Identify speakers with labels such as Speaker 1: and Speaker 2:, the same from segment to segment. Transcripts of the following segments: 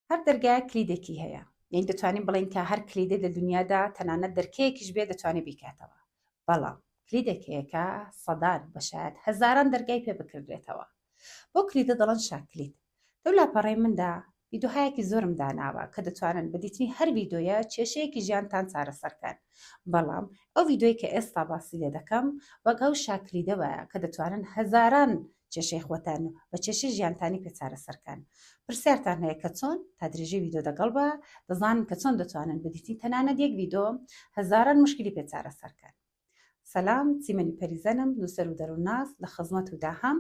Speaker 1: هەر دەرگایەک کلیدێکی هەیە یعنی دەتوانین بڵین کە هەر کلیدێ لە دنیادا تەنانەت دەرکەیەکیش بێ دەتوانێت بیکاتەوە بەڵام کلیدێک هەیەکە سەدان بەشایەت هەزاران دەرگای پێ بکردێتەوە بۆ کلیدە دەڵەن شاکلیت لەو لاپەڕەی مندا ویدۆهایەکی زۆرم داناوە کە دەتوانن بەدیتنی هەر ویدۆیە کێشەیەکی ژیانتان چارەسەرکەن بەڵام ئەو ویدۆی کە ئێستا باسی لێ دەکەم وەک ئەو شاکلیدەوەە کە دەتوانن هەزاران کێشەی خۆتان و بە کێشەی ژیانتانی پێ چارەسەر کەن پرسیارتان هەیە کە چۆن تا درێژەی ویدۆ دەگەڵ بە دەزانن کە چۆن دەتوانن بدیتین تەنانەت یەک ویدۆ هەزاران مشکلی پێ چارەسەر کەن سلام چیمەنی پەریزەنم نووسەر و دەروونناس لە خزمەت و داهام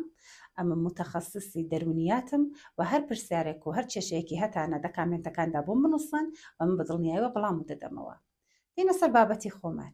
Speaker 1: ئەمە متخصصی دەرونیاتم و هەر پرسیارێک و هەر کێشەیەکی هەتانە دە کامێنتەکاندا بۆم بنووسن و من بە دڵنیایەوە بڵام و دەدەمەوە دێنە سەر بابەتی خۆمان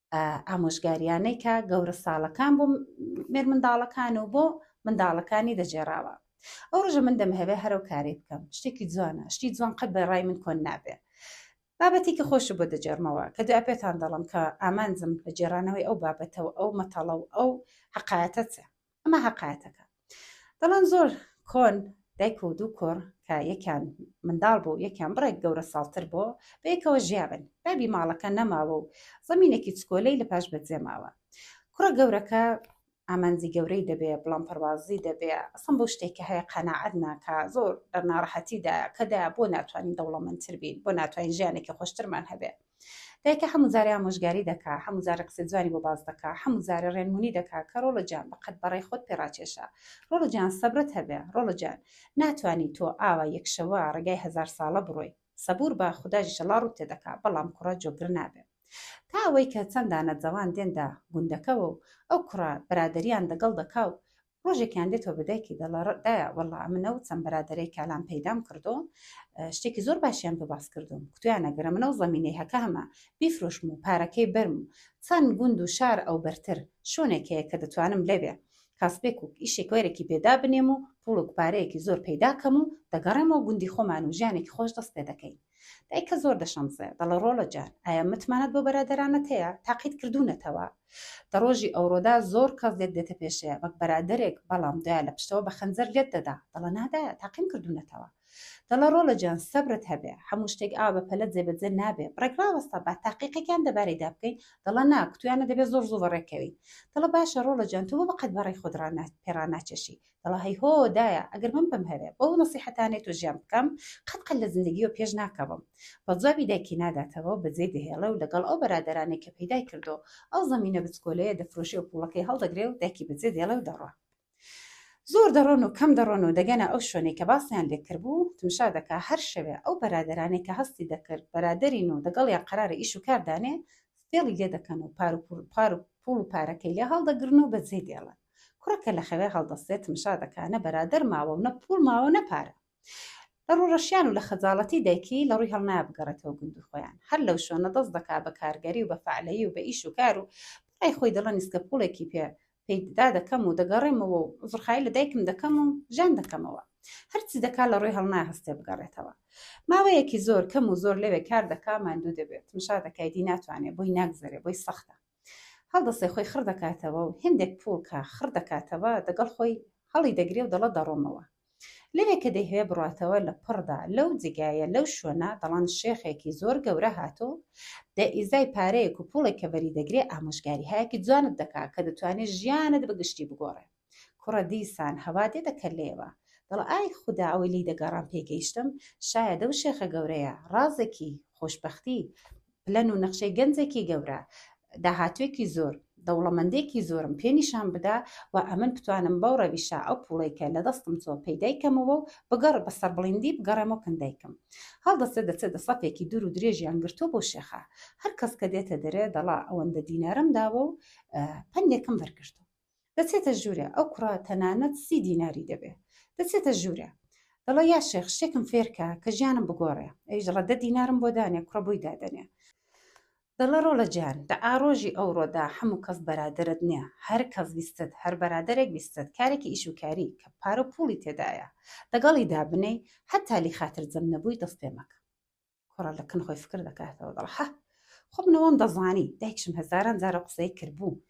Speaker 1: ئامۆژگاریانەی کە گەورە ساڵەکان بۆ مێر منداڵەکان و بۆ منداڵەکانی دەجێراوە ئەو ڕژە من دەمهەوێ هەرو کارێ بکەم شتێکی جوانە شتی جوان قەت بە ڕای من کۆن نابێ بابەتێکی خۆش بۆ دەجێرمەوە کە دوای پێتان دەڵم کە ئامانجم لە جێرانەوەی ئەو بابەتەوە ئەو مەتەڵە و ئەو حقایەتە چە ئەمە هەقایەتەکە دەڵێن زۆر کۆن دایک و دوو کۆڕ کە یەکیان منداڵ بوو یەکیان بڕێک گەورە ساڵتر بۆ بەیەکەوە ژیابن بابی ماڵەکە نەماوە و زەمینێکی چکۆلەی لە پاش بەجێ ماوە کوڕە گەورەکە ئامانجی گەورەی دەبێ بڵام پەروازی دەبێ ئەسم بۆ شتێکە هەیە قەنەعەت ناکە زۆر ناڕەحەتیدا کەدا بۆ ناتوانین دەوڵەمەندتر بین بۆ ناتوانین ژیانێکی خۆشترمان هەبێ دایکە حەموو جارێ ئامۆژگاری دەکا حەموو جارێ قسەی جوانی بۆ باس دەکا حەموو جارێ ڕێنمونی دەکا کە ڕۆڵۆ جان بەقەد بەڕای خۆت پێ ڕاکێشە ڕۆڵۆ جان سەبرت هەبێ ڕۆڵۆ جان ناتوانی تۆ ئاوا یەک شەوە ڕێگای هەزار ساڵە بڕۆی سەبور بە خوداش ئیشەڵا ڕوت تێ دەکا بەڵام کوڕە جۆگر نابێ تا ئەوەی کە چەند دانە جەوان دێنتە گوندەکەوە و ئەو کوڕە بەرادەریان دەگەڵ دەکا و ڕۆژێکیان دێتەوە بە دایکی دەڵە ڕدایە وەڵا منە و چەند بەرادەرەی کالان پەیدام کردو شتێکی زۆر باشیان بە باس کردوم کوتویان نەگەرە منە و زەمینەی هەکە هەمە بیفرۆشم و پارەکەی بەرم و چەند گوند و شار ئەو بەرتر شوێنێک هەیە کە دەتوانم لەوێ کاسبێک و ئیشێک وەرێکی پێدا بنێم و پوڵک پارەیەکی زۆر پەیداکەم و دەگەڕێمەوە گوندی خۆمان و ژیانێکی خۆش دەست پێ دەکەین دایکە زۆر دەشەمزێ دەڵێ ڕۆڵە جار ئایا متمانەت بۆ بەرادەرانت هەیە تاقیت کردوونەتەوە دە ڕۆژی ئەوڕۆدا زۆر کەس لێت دێتە پێشەیە وەک بەرادەرێک بەڵام دوای لە پشتەوە بە خەنجەر لێت دەدا دەڵە نادایە تاقیم کردوونەتەوە دەڵە ڕۆڵە جان سەبرت هەبێ هەموو شتێک ئا بە پەلە جێبەجێ نابێ بڕێک ڕاوەستە با تاقیقێکیان دەبارەیدا بکەین دەڵە نا کتویانە دەبێت زۆر زوو بەڕێکەوین دەڵە باشە ڕۆڵە جان تۆ بۆ بەقەد بەڕێ خۆت پێڕاناچێشی دەڵێ هەی هۆ دایە ئەگەر من بم هەرە بەو نەسیحەتانەی تۆ ژیان بکەم قەت قەت لە زندگیەوە پێش ناکەوم بەڵ جوابی دایکی ناداتەوە بە جێ دەهێڵێ و لەگەڵ ئەو بەرادەرانەی کە پەیدای کردوە ئەو زەمینە بچکۆلەیە دەفرۆشێ و پوڵەکەی هەڵدەگرێ و دایکی بە جێ دێڵێ و دەڕوا زۆر دەڕۆن و کەم دەڕۆن و دەگەنە ئەو شوێنەی کە باسیان لێ کردبوو تمشا دەکا هەر شەوێ ئەو بەرادەرانەی کە هەستی دەکرد بەرادەرین و دەگەڵیان قەرارە ئیش و کار دانێ فێڵی لێ دەکەن و پار و پوڵ و پارەکەی لێ هەڵدەگرن و بە جێ دێڵن کوڕە کە لە خەوێ هەڵدەستێتم شادەکا نە بەرادەر ماوە و نە پووڵ ماوە نە پارە لە ڕووڕەشیان و لە خەجاڵەتی دایکی لە ڕووی هەڵنایە بگەڕێتەوە گوندی خۆیان هەر لەو شوێنە دەست دەکا بە کارگەری و بە فەعلەیی و بە ئیش و کار و بەڕای خۆی دەڵێ نیسکە پووڵێکی پێ پێیدا دەکەم و دەگەڕێمەوە و عوزرخایی لە دایکم دەکەم و ژان دەکەمەوە هەرچی دەکا لە ڕووی هەڵنایە هەستێ بگەڕێتەوە ماوەیەکی زۆر کەم و زۆر لەوێ کار دەکا ماندوو دەبێت مشا دەکای دی ناتوانێ بۆی ناگزەرێ بۆی سەختە هەڵدەستێ خۆی خڕ دەکاتەوە و هێندێک پووڵ کە خڕ دەکاتەوە دەگەڵ خۆی هەڵی دەگرێ و دەڵێ دەڕۆمەوە. لەوێ کە دەیهەوێ بڕاتەوە لە پڕدا لەو جێگایە لەو شوێنە دەڵێن شێخێکی زۆر گەورە هاتوو بە ئیزای پارەیەک و پووڵێک کە وەری دەگرێ ئامۆژگاریهایەکی جوانت دەکا کە دەتوانێ ژیانت بە گشتی بگۆڕێ. کوڕە دیسان هەوا دێتە کەللەیەوە دەڵێ ئای خودا ئەوەی لێی دەگەڕام پێی گەیشتم، شایەدە و شێخە گەورەیە، ڕازێکی، خۆشبەختی، پلەن و نەخشەی گەنجێکی گەورە، داهاتووێکی زۆر، دەوڵەمەندێکی زۆرم پێ نیشان بدا و ئەمن بتوانم بەو ڕەویشە ئەو پووڵەی کە لە دەستم چووە پەیدای کەمەوە و بەگەڕ بە سەربڵیندی بگەڕێمەوە کن دایکم. هەڵدەستێ دەچێ دە سەفێکی دوور و درێژیان گرتووە بۆ شێخە. هەر کەس کە دێتە دەرێ دەڵا ئەوەندە دینارم داوە و پەندێکم بەر گرتووە. دەچێتە ژوورێ ئەو کوڕە تەنانەت سی دیناری دەبێ دەچێتە ژوورێ دەڵێ یا شێخ شتێکم فێرکە کە ژیانم بگۆڕێ ئەویش دەڵێ دە دینارم بۆ دانێ کوڕە بۆی دادەنێ دەڵێ ڕۆڵە جان دە ئاڕۆژی ئەوڕۆدا هەموو کەس بەرادەرت نییە هەر کەس ویستت هەر بەرادەرێک ویستت کارێکی ئیشوکاری کە پارە و پوڵی تێدایە لەگەڵی دابنێی هەتا لی خاترجەم نەبووی دەست پێ مەکە کوڕە لە کن خۆی فکر دەکاتەوە دەڵ حە خۆ منەوەم دەزانی دایکشم هەزاران جارە قسەی کردبوو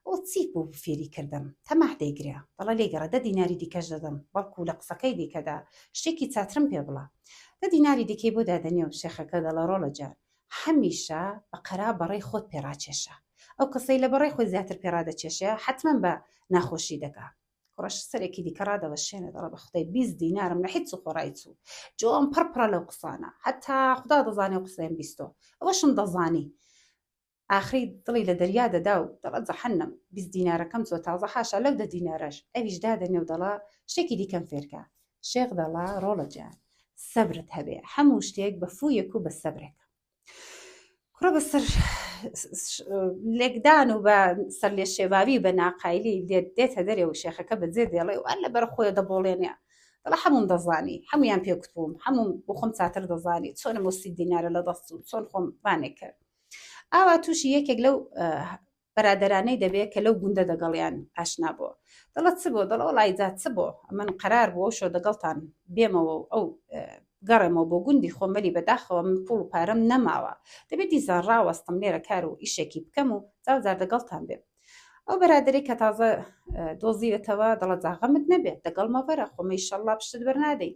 Speaker 1: ئەو چی بوو فێری کردم تەماح دەیگرە دەڵە لێ گەڕە دە دیناری دیکەش دەدەم بەڵکو لە قسەکەی دیکەدا شتێکی چاترم پێ بڵە دە دیناری دیکەی بۆ دادەنێ و شێخەکە دەڵە ڕۆڵە جار هەمیشە بە قەرا بەڕێی خۆت پێڕاکێشە ئەو کەسەی لە بەڕێ خۆی زیاتر پێڕادەکێشێ حتمما بە ناخۆشی دەکا کوڕەش سەرێکی دیکە ڕادەوەشێنێ دەڵە بە خدای بیست دینارم لە حیچ خۆڕای چوو جۆم پڕ پڕە لەو قسانە هەتا خدا دەزانێ قسەیان بیستۆ ئەوەشم دەزانی ئاخری دڵی لە دەریا دەدا و دەڵە جەحەنم بیست دینارەکەم چۆ تازە حاشا لەو دە دینارەش ئەویش دادەنێ و دەڵا شتێکی دیکەم فێرکە شێخ دەڵا ڕۆڵە جان سەبرت هەبێ هەموو شتێک بە فوویەک و بە سەبرێکە کوڕە بەسەر لێکدان و بە سەر لێ شێواوی بە ناقایلی لێت دێتە دەرێ و شێخەکە بەجێ دێڵێ وان لە بەر خۆی دەبڵێنێ دڵە هەموم دەزانی هەمویان پێکت بووم هەموم بۆ خۆم چاتر دەزانی چۆن مۆسی دینارە لە دەست و چۆن خۆم بانێک کرد ئاوا تووشی یەکێک لەو برادەرانەی دەبێ کە لەو گوندە دەگەڵیان ئاشنا بۆ دەڵە چ بۆ دەڵە وڵی جا چ بۆ ئەمن قەرار بۆ شۆ دەگەڵتان بێمەوە و ئەو گەڕێمەوە بۆ گوندی خۆمەلی بەداخەوە من پوڵ و پارەم نەماوە دەبێت دیزان ڕاوەستم لێرە کار و ئیشێکی بکەم و جاوزار دەگەڵتان بێ ئەو بەرادری کە تازە دۆزیوێتەوە دەڵە جاغەمت نەبێت دەگەڵ مەڤەرە خۆمەی شەڵا پشت بەرنادەی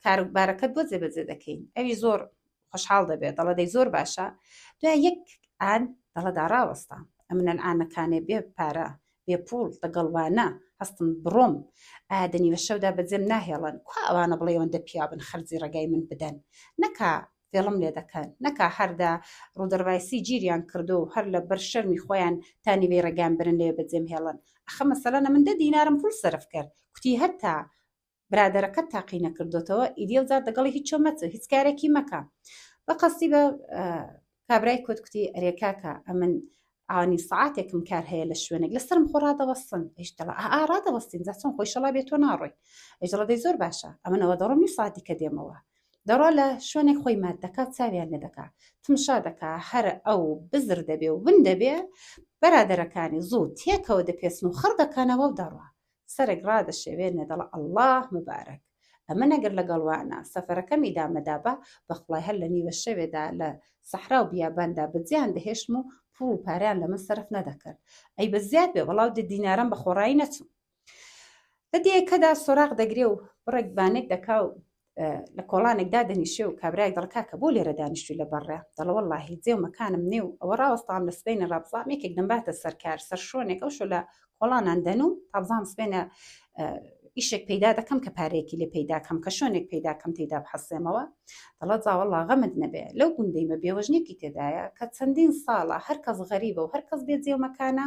Speaker 1: کاربارەکەت بۆ جێبەجێ دەکەین ئەوی زۆر خۆشحاڵ دەبێ دەڵێ دەی زۆر باشە دوای یەک ئان دەڵە دا ڕاوەستە ئەمن ئانەکانێ بێ پارە بێ پوڵ دەگەڵوانە هەستم بڕۆم ئایا دەنی لە شەودا بەجێم ناهێڵن کو ئەوانە بڵێ ئەوەندە پیاون خەرجی ڕێگای من بدەن نەکا فێڵم لێ دەکەن نەکا هەردا ڕوودەڕایسی گیریان کردو و هەر لە بەر شەرمی خۆیان تا نیوەی ڕێگان برن لێ بەجێم هێڵن ئەخە مەسەلەنە من دە دینارم پوڵ سەرف کرد کوتی هەتا برادەرەکەت تاقی نەکردۆتەوە ئیدی ئەوجار دەگەڵی هیچ چۆ مەچە هیچ کارێکی مەکە بەقەستی بە کابرای کۆت کوتی ئەرێ کاکە ئەمن ئانی سعاتێکم کار هەیە لە شوێنێک لەسرم خۆ ڕادەوەستن ئیشتەڵ ئارادەوەستین زاچۆن خۆی شەڵا بێت تۆ ناڕۆی ئەجڵە دەی زۆر باشە ئەمنەوە دەڕۆم نی ساتی کە دێمەوە دەڕۆ لە شوێنێک خۆی مات دەکات چاویان لێ دەکات تمشا دەکا هەر ئەو بزر دەبێ و ون دەبێ بەرادەرەکانی زوو تێکەوە دەپێسن و خڕ دەکەنەوە و دەڕە سەرێک ڕادەشێوێنێ دەڵێ ئەڵڵا مبارەک. ئەمن ئەگەر لەگەڵ وانا سەفەرەکەمی دامەدابا، بەخوای هەر لە نیوە شەوێدا لە سەحرا و بیاباندا بەجێیان دەهێشتم و پووڵ و پارەیان لە من سەرف نەدەکرد. ئەی بە زیاد بێ وەڵاو دە دینارەم بە خۆڕایی نەچم. لە دێیەکەدا سۆراغ دەگرێ و بڕێک بانێک دەکا و لە کۆڵانێک دادەنیشێ و کابرای دەڵکا کە بۆ لێرە دانیشتوی لە بەڕێ دەڵەوە اللهی جێ و مەکانم نێ و ئەوە ڕاوەستان لە سبینە ڕابزام یەکێک دەمباتە سەرکار سەر شوێنێک ئەو شو لە کۆڵانان دەن و تابزام سبێنە ئیشێک پەیدا دەکەم کە پارەیەکی لێ پەیدا کەم کە شوێنێک پەیدا کەم تێدا بحەسێمەوە دەڵە زاوەڵا غەمت نەبێ لەو گوندەی مە بێوەژنێکی تێدایە کە چەندین ساڵە هەرکەس غەریبە و هەرکەس بێ جێومەکانە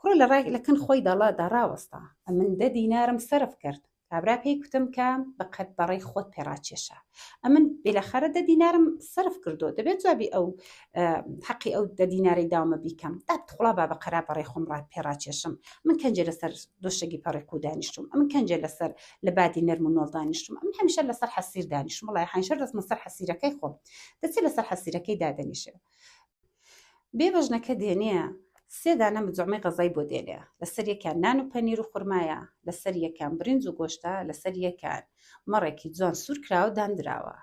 Speaker 1: کوڕە لە ڕای لە کن خۆی دەڵا دا ڕاوەستا، ئەمن دە دینارم سەرف کرد، کابرا پێی کوتم کە بە قەد بە ڕەی خۆت پێ ڕاکێشە، ئەمن بیلاخەرە دە دینارم سەرف کردووە، دەبێ جوابی ئەو حەقی ئەو دە دینارەی داومە بیکەم، دە توڵا با بە قەرا بە ڕەی خۆم ڕا پێ ڕاکێشم، ئەمن کەنجێ لە سەر دۆشەگی پەڕیق و دانیشتووم، ئەمن کەنجێ لە سەر لە بادی نەرم و نۆڵ دانیشتووم، ئەمن هەمیشە لە سەر حەسیر دانیشتووم، وەڵای حەیشە دەسمە سەر حەسیرەکەی خۆم، دەچێ لە سەر حەسیرەکەی دادەنیشێ. بێ بەژنەکە دێنێ سێ دانە مجەمەی غەزای بۆ دێنێ لەسەر یەکیان نان و پەنیر و خورمایە لەسەر یەکیان برنج و گۆشتە لەسەر یەکان مەڕێکی جوان سوور کراوە و داندراوە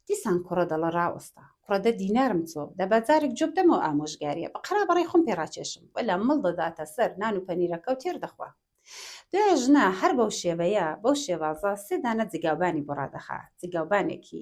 Speaker 1: دیسان کوڕە دەڵە ڕاوەستە کوڕە دە دینارم چۆ دە با جارێک جوێ بدەمەوە ئامۆژگارییە بە قەرابەڕەی خۆم پێ ڕاکێشم وەلا مڵ دەداتە سەر نان و پەنیرەکە و تێر دەخوا دوای ژنە هەر بەو شێوەیە بەو شێوازە سێ دانە جگاوبانی بۆ ڕادەخا جگاوبانێکی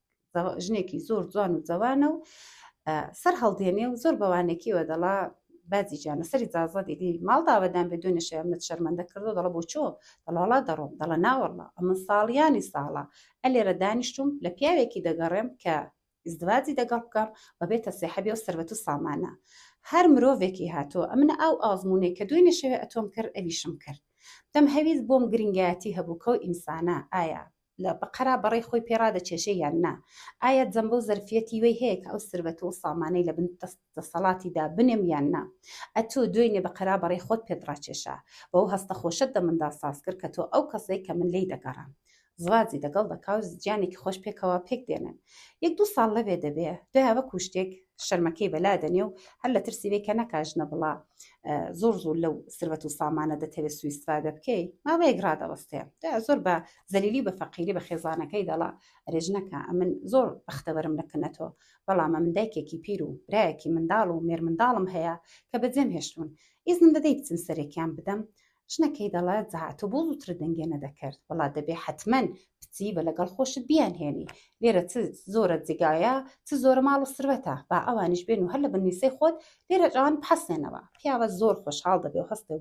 Speaker 1: ژنێکی زۆر جوان و جوانە و سەر هەڵدێنێ و زۆر بەوانێکیەوە دەڵا بازی جانە سەری زازە دیدی ماڵداوەدان بە دوێنە شێ منە شەرمەندە کردو دەڵە بۆ چۆ دەڵاڵا دەڕۆم دەڵە ناوەڕڵا ئەمە ساڵیانی ساڵە ئە لێرە دانیشتوم لە پیاوێکی دەگەڕێم کە ئزدواجی دەگەڵ بکەم و بێتە سێحەبی و سربەت و سامانە هەر مرۆڤێکی هاتۆ ئەمنە ئەو ئازمونەی کە دوێنێ شەوێ ئەتۆم کرد ئەویشم کرد دەم هەویست بۆم گرنگایەتی هەبوو کەو ئینسانە ئایا لە بەقەرا بەڕەی خۆی پێ ڕادەچێژێ یان نا؟ ئایا جەمبەو زەرفیەتی وی هەیە کە ئەو سربەتو و سامانەی لە بن دەست دەسەڵاتی دا بنێم یان نا؟ ئەتۆ دوێنێ بەقەرا بەڕەی خۆت پێت ڕاچێشا بەو هەستە خۆشەت دە مندا ساز کرد کە تۆ ئەو کەسەی کە من لێی دەگەڕام زواجی دەگەڵ دەکاو ژیانێکی خۆش پێکەوە پێک دێنن یەک دوو ساڵ لەوێ دەبێ دوایە وەکو شتێک شەرمەکەی بەلا دەنێ و هەر لە ترسی بێ کە نەکا ژنە بڵا زۆر زۆر لەو سروەت و سامانە دەتەوێت سویستفادە بکەی ماوەیەک ڕادەوەستێ زۆر بە زەلیلی بە فەقیری بە خێزانەکەی دەڵا رێژنەکە ئەمن زۆر بەختەوەرم لە کنەتۆ بەڵام من دایکێکی پیر و برایەکی منداڵ و مێر منداڵم هەیە کە بەجێم هێشتون ئیزنم دەدەی بچم سەرێکیان بدەم ژنە کەی دەڵێ زاتۆ بۆ زووترە دەنگێ نەدەکرد وڵا دەبێ حتمەن بچی بە لەگەڵ خۆشت بیان هێنی لێرە چ زۆرە جگایە چ زۆرە ماڵ و سروەتە با ئەوانیش بێن و هەر لە بنویسەی خۆت لێرە جوان بحەسێنەوە پیاوە زۆر خۆشحاڵ دەبێ و هەستێ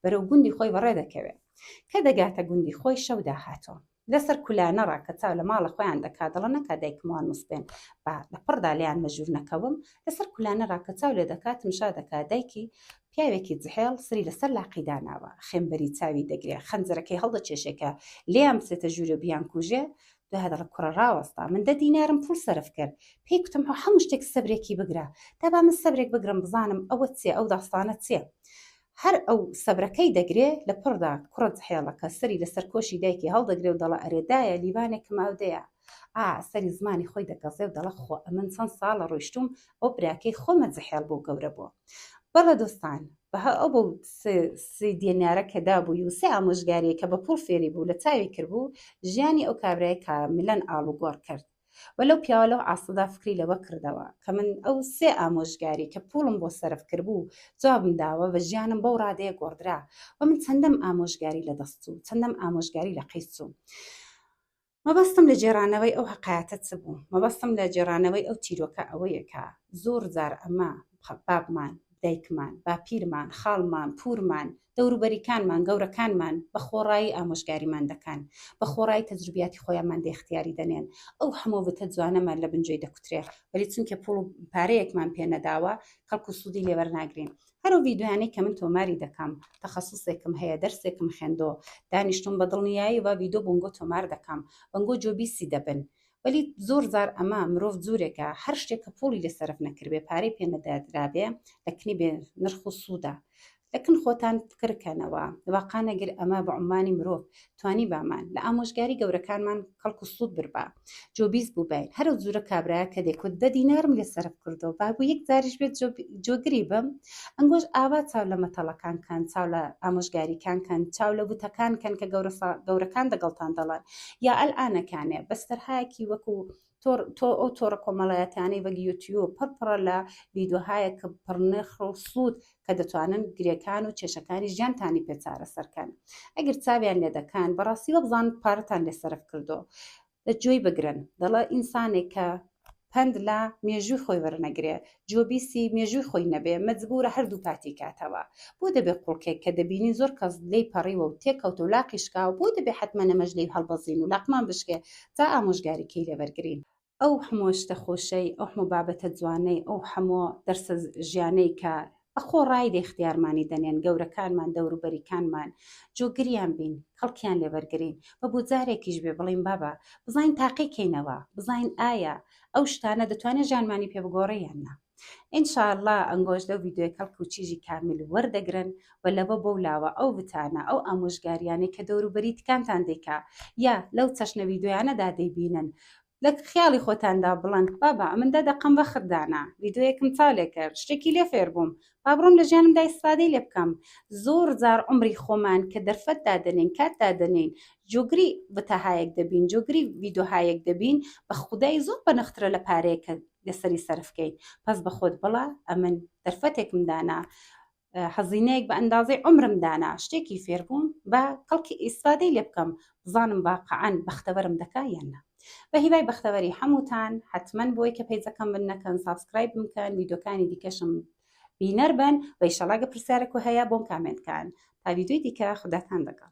Speaker 1: بەرەو گوندی خۆی بەڕێ دەکەوێ کە دەگاتە گوندی خۆی شەو داهاتوە لەسەر کولانە ڕا کە چاو لە ماڵە خۆیان دەکا دەڵە نەکا دایکم وان مسپێن با لە پڕ دا لێیان مەژوور نەکەوم لەسەر کولانە ڕا کە چاو لێ دەکا تمشا دەکا دایکی پیاوێکی جحێڵ سری لەسەر لاقی داناوە خێمبەری چاوی دەگرێ خەنجەرەکەی هەڵدەکێشێ کە لێیان بچێتە ژوورێ و بیانکووژێ دوای دەڵە کوڕە ڕاوەستا من دە دینارم پوول سەرف کرد پێی کوتم هەموو شتێک سەبرێکی بگرە دابا من سەبرێک بگرم بزانم ئەوە چیە ئەو داستانە چیە هەر ئەو سەبرەکەی دەگرێ لە پڕدا کوڕت هێڵەکە سەری لە سەر کۆشی دایکی هەڵدەگرێ و دەڵێ ئەرێ دایە لیوانێکم ئاودەیە ئا سەری زمانی خۆی دەگەزێ و دەڵێ خۆ ئەمن چەند ساڵە ڕۆیشتووم ئەو براکەی خۆمە زحێڵ بۆ گەورە بۆ بەڵێ دۆستان بەها ئەو بەو سی دێنارە کە دابووی و سێ ئامۆژگاریە کە بە پوڵ فێری بوو لە چاوی کردبوو ژیانی ئەو کابرای کاملەن ئاڵوگۆڕ کرد و لەو پیاوە لەو عاسڵدا فکری لەوە کڕدەوە کە من ئەو سێ ئامۆژگاری کە پووڵم بۆ سەرف کردبوو جوابم داوە و ژیانم بەو ڕادەیە گۆڕدرا و من چەندەم ئامۆژگاری لە دەست چوو چەندەم ئامۆژگاری لە قەیس چوو مەبەستم لە گێڕانەوەی ئەو هەقایەتە چ بوو مەبەستم لە گێڕانەوەی ئەو چیرۆکە ئەوەیە کە زۆر جار ئەمە بابمان دایکمان باپیرمان خاڵمان پوورمان دەوروبەریکانمان، گەورەکانمان بە خۆڕایی ئامۆژگاریمان دەکان، بە خۆڕایی تەجروبیاتی خۆیانمان دێختیاری دەنێن، ئەو هەموو بتە جوانەمان لە بنجۆی دەکوترێ، وەلی چونکێ پووڵ و پارەیەکمان پێ نەداوە، کەڵک و سوودی لێ وەرناگرین. هەر ئەو ڤیدۆیانەی کە من تۆماری دەکەم، تەخەسوسێکم هەیە، دەرسێکم خێندۆ، دانیشتووم بە دڵنیایی ڤا ڤیدۆ بونگۆ تۆمار دەکەم، بەنگۆ جۆبیسی دەبن وەلی زۆر زار ئەمە مرۆڤ جورێکە هەر شتێک کە پوڵی لێ سەرف نەکردبێ پارەی پێ نەدادرابێ لە کنی بێ نرخ و سوودا لەکن خۆتان فکرکەنەوە واقع نەگر ئەمە بە عمانی مرۆڤ توانی بامان لە ئامۆژگاری گەورەکانمان کەڵک و سوود بربا جۆبیز بوو باین هەرو جورە کابراە کە دەکوت دە دینارم لێ سەرف کردو بابوو یەک زاریش بێت جۆگری بم ئەنگۆش ئاوا چاو لە مەتەڵەکان کەن چاو لە ئامۆژگاریکان کەن چاو لە وتەکان کەن کە گەورەکان دەگەڵتان دەڵات یا ئەلئانەکانێ بەس تەرهایەکی وەکو تۆ تۆ ئەو تۆڕە کۆمەڵایەتانەی وەک یوتیوب پڕ پڕە لە ڤیدیۆهایە کە پڕنرخ و سوود کە دەتوانن گرێکان و کێشەکانی ژیانتانی پێ چارەسەرکەن ئەگەر چاویان لێ دەکەن بەڕاستی وەبزان پارەتان لێ سەرف کردۆ لە گوێی بگرن دەڵێ ئینسانێک کە پەند لە مێژووی خۆی وەرنەگرێ جۆ بیسی مێژووی خۆی نەبێ مەجبورە هەردوو پاتی کاتەوە بۆ دەبێ قوڵکێک کە دەبینی زۆر کەس لێی پەڕیوە و تێکەوتە و لاقی شکاوە بۆ دەبێ حەتمەن ئەمەش لێی هەڵبەزین و لاقمان بشکێ تا ئامۆژگاریی لێ وەرگرین. ئەو حەموو شتە خۆشەی، ئەو حەموو بابەتە جوانەی، ئەو حەموو دەرسە ژیانەی کە ئەخۆ ڕایدە اختیارمانی دەنێن گەورەکانمان دەوروبەریکانمان جۆگریان بین کەڵکیان لێ بەرگرین بە بۆ جارێکیش بێ بڵێین بابە بزانین تاقی کەینەوە بزانین ئایا ئەو شتانە دەتوانێت ژیانمانی پێ بگۆڕێ یان نا ان شاء الله ئەنگۆش لەو ڤیدیۆی کەڵک و چیژی کامل وەردەگرن و لەوە بەو لاوە ئەو وتانە ئەو ئامۆژگاریانەی کە دەوروبەریتکانتان دەیکا یا لەو چەشنە ڤیدیۆیانەدا دەیبینن لە خیاڵی خۆتاندا بڵێن، بابە ئەمن دە دەقەم وەخت دانا، ڤیدیۆیەکم چاو لێ کرد، شتێکی لێ فێر بووم، با بڕۆم لە ژیانمدا ئیسفادەی لێ بکەم. زۆر جار عومری خۆمان کە دەرفەت دادەنێین، کات دادەنێین، جۆگری ڤتاهایەک دەبین، جۆگری ڤیدۆهایەک دەبین، بە خودای زۆر بەنخترە لە پارەیەک کە لەسەری سەرف کەین. پەس بە خۆت بڵە، ئەمن دەرفەتێکم دانا، هەزینەیەک بە ئەندازەی عومرم دانا شتێکی فێربووم با کەڵکی ئیسفادەی لێ بکەم بزانم واقعەن بەختەوەرم دەکا یان نا بە هیوای بەختەوەری هەمووتان حتمما بۆی کە پەیجەکەم من نەکەن سابسکرایب بکەن ویدۆکانی دیکەشم بینەر بن و ئیشەڵا گە پرسیارەک و هەیە بۆم کامنت کەن تا ویدۆی دیکە خوداتان لەگەڵ